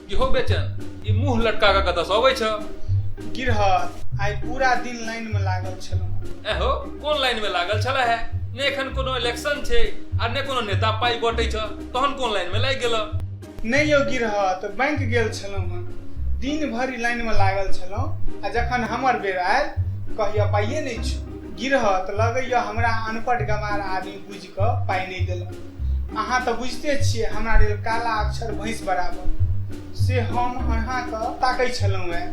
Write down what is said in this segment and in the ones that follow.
की हो बेचन ई मुंह लटका के कतऽ से अबै छ गिरहत आइ पूरा दिन लाइन में लागल छलहुँ एहो कोन लाइन में लागल छला है ने एखन कोनो इलेक्शन छै आ ने कोनो नेता पाई बटै छ तहन कोन लाइन में लागि गेलऽ नहि यौ गिरहत बैंक गेल छलहुँ हँ दिन भरि लाइनमे लागल छलहुँ आ जखन हमर बेर आयल कहिया पाइए नहि छौ गिरहत लगैया हमरा अनपढ़ गमार आदमी बुझि कऽ पाइ नहि देलक अहाँ तऽ बुझिते छियै हमरा लेल काला अक्षर भैंस बराबर से हम अहाँके ताकै छलहुँ हँ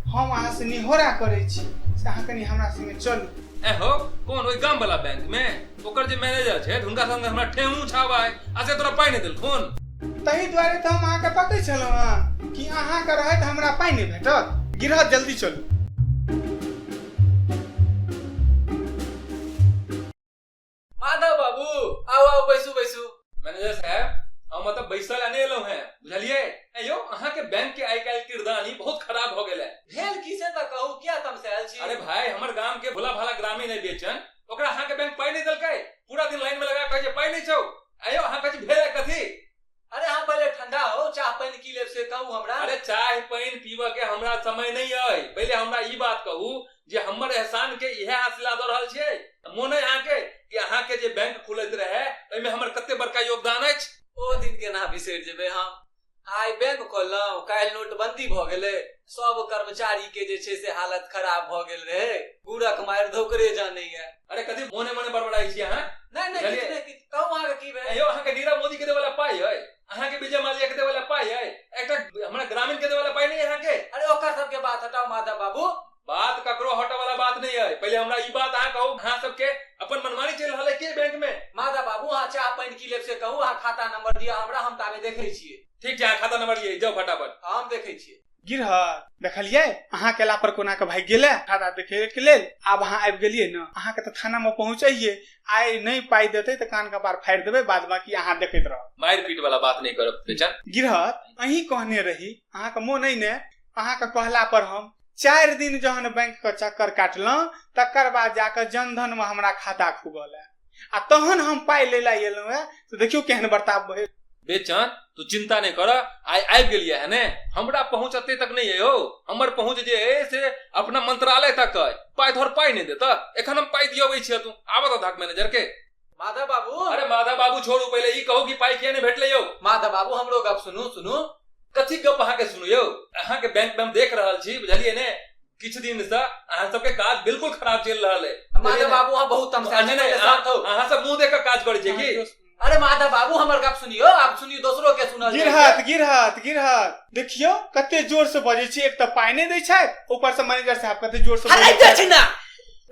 हम अहाँसँ निहोरा करै छी से अहाँ कनि हमरा सङ्गे चलू एहो कोन ओहि गामवला बैंकमे ओकर जे मैनेजर छै हुनका संगे हमरा ठेहू छावा है आ से तोरा पाई नहीं देलखुन तही दुआरे तो हम अहाँ के बतै छलहुँ हँ कि अहाँ के रहत हमरा पाई नहीं भेटत गिरह जल्दी चलू माधव बाबू आओ आओ बैसू बैसू मैनेजर साहब हम मतलब बैसल आने एलो हैं बुझलिए ए यो अहाँ के बैंक के आई काल किरदानी बहुत खराब हो गेल है भेल किसे त कहू किया तमसायल छी अरे भाई हमर गांव के भोला भाला ग्रामीण है बेचन ओकरा अहाँके बैंक पाइ नहि देलकै पूरा दिन लाइन में लगा कहै छै पाइ नहि छौ आयो अहाँ कहै छी भेल कथी अरे अहाँ पहिले ठंडा हो चाह पानि की लेब से कहू हमरा अरे चाय पानि पीबऽ के हमरा समय नहि अइ पहिले हमरा ई बात कहू जे हमर एहसान के इहे हासिला दऽ रहल छियै मोन अइ अहाँके कि अहाँके जे बैंक खुलैत रहै ओहिमे हमर कते बड़का योगदान अछि ओ दिन केना बिसरि जेबै हम आइ बैंक खोललहुँ काल्हि नोटबंदी भऽ गेलै सब कर्मचारी के जे छै से हालत खराब भऽ गेल रहै गुड़क मारि धोकरे जानैया अरे कथी मोने मोने बड़बड़ाई छी अहाँ नहि नहि किछु नहि किछु कहू अहाँके की भेल यौ अहाँके नीरव मोदी के देवला पाई है अहाँके विजय माल्या के देवला पाई है एकटा हमरा ग्रामीण के देवला पाई नहीं अहाँके अरे ओकर सबके बात हटाओ माधव बाबू बात ककरो हटे वाला बात नहीं है पहले हमरा ई बात अहाँ कहू अहाँ सबके अपन मनमानी चल रहल है के बैंक में माधव बाबू अहाँ चाह पानि की लेब से कहू अहाँ खाता नंबर दिअ हमरा हम ताबे देखै छियै ठीक छै अहाँ खाता नंबर लिए जाओ फटाफट हम देखै छियै गिरहर देखलियै अहाँ केला पर कोना के भागि गेलै खाता देखे के लेल आब अहाँ आबि गेलियै ने अहाँ के तऽ थाना में पहुँचैये आइ नहि पाइ देतै तऽ कान कपार फाड़ि देबै बाद बाकी अहाँ देखैत रहब मारि पीट वाला बात नहीं करब बेचन गिरहर अहीं कहने रही अहाँके मोन अइ ने अहाँके कहला पर हम चारि दिन जहन बैंक के चक्कर काटलहुँ तकर बाद जाकर जनधन में हमरा खाता खुगल है आ तहन हम पाइ ले ला एलहुँ है तो देखियो केहन बर्ताव भेल बेचन तू चिंता नहीं कर आइ आबि गेलिए है ने हमरा पहुंच अते तक नहीं है हो हमर पहुंच जे है से अपना मंत्रालय तक है पाइ धर पाइ नहीं देता एखन हम पाइ दियबै छियै तू आबत धक मैनेजर के माधव बाबू अरे माधव बाबू छोड़ू पहिले ई कहू कि पाइ किया नहि भेटलै यौ माधव बाबू हमरो गप सुनू सुनू कथी गप अहाँके सुनू यौ अहाँके बैंक में हम देख रहल छी बुझलियै ने किछु दिन से अहाँ सबके काज बिल्कुल खराब चलि रहल है माधव बाबू अहाँ बहुत तमसा नहि नहि शांत होउ। अहाँ सब मुंह देख के काज करै छियै की अरे माधव बाबू हमर गप सुनियो आप सुनियो दोसरो के सुनल गिर जाइए। हाथ गिर हाथ गिर हाथ देखियो कते जोर से बजै छी एक तऽ पाइ नहि दै छै ऊपर से मैनेजर साहब कते जोर से हराइ बजै जाइ छै। छै ना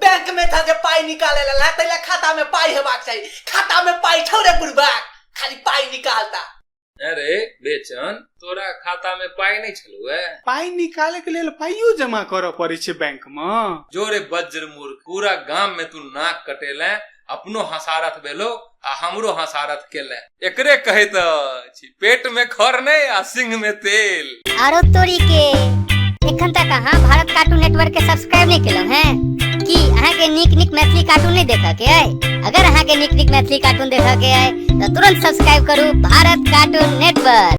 बैंक में धऽ के पाई निकाले ला ला तैला खाता में पाई हेबाक चाही खाता में पाई छौ रे बुढ़बाक खाली पाई निकालता अरे बेचन तोरा खाता में पाई नहीं छलू है पाई निकाले के लेल पाइयो जमा करऽ पड़े छै बैंक में जोरे बज्र मूर्ख पूरा गांव में तू नाक कटेला अपनो हसारथ भेलो आ हमरो हसारथ केले एकरे कहैत अछि पेट में खर नहीं आ सिंह में तेल आरो तोरी के एखन तक अहाँ भारत कार्टून नेटवर्क के सब्सक्राइब नहीं केलहुँ हैं की अहाँ के नीक नीक मैथिली कार्टून नहीं देखऽ के अइ अगर अहाँ के नीक नीक मैथिली कार्टून देखऽ के अइ तऽ तुरंत सब्सक्राइब करू भारत कार्टून नेटवर्क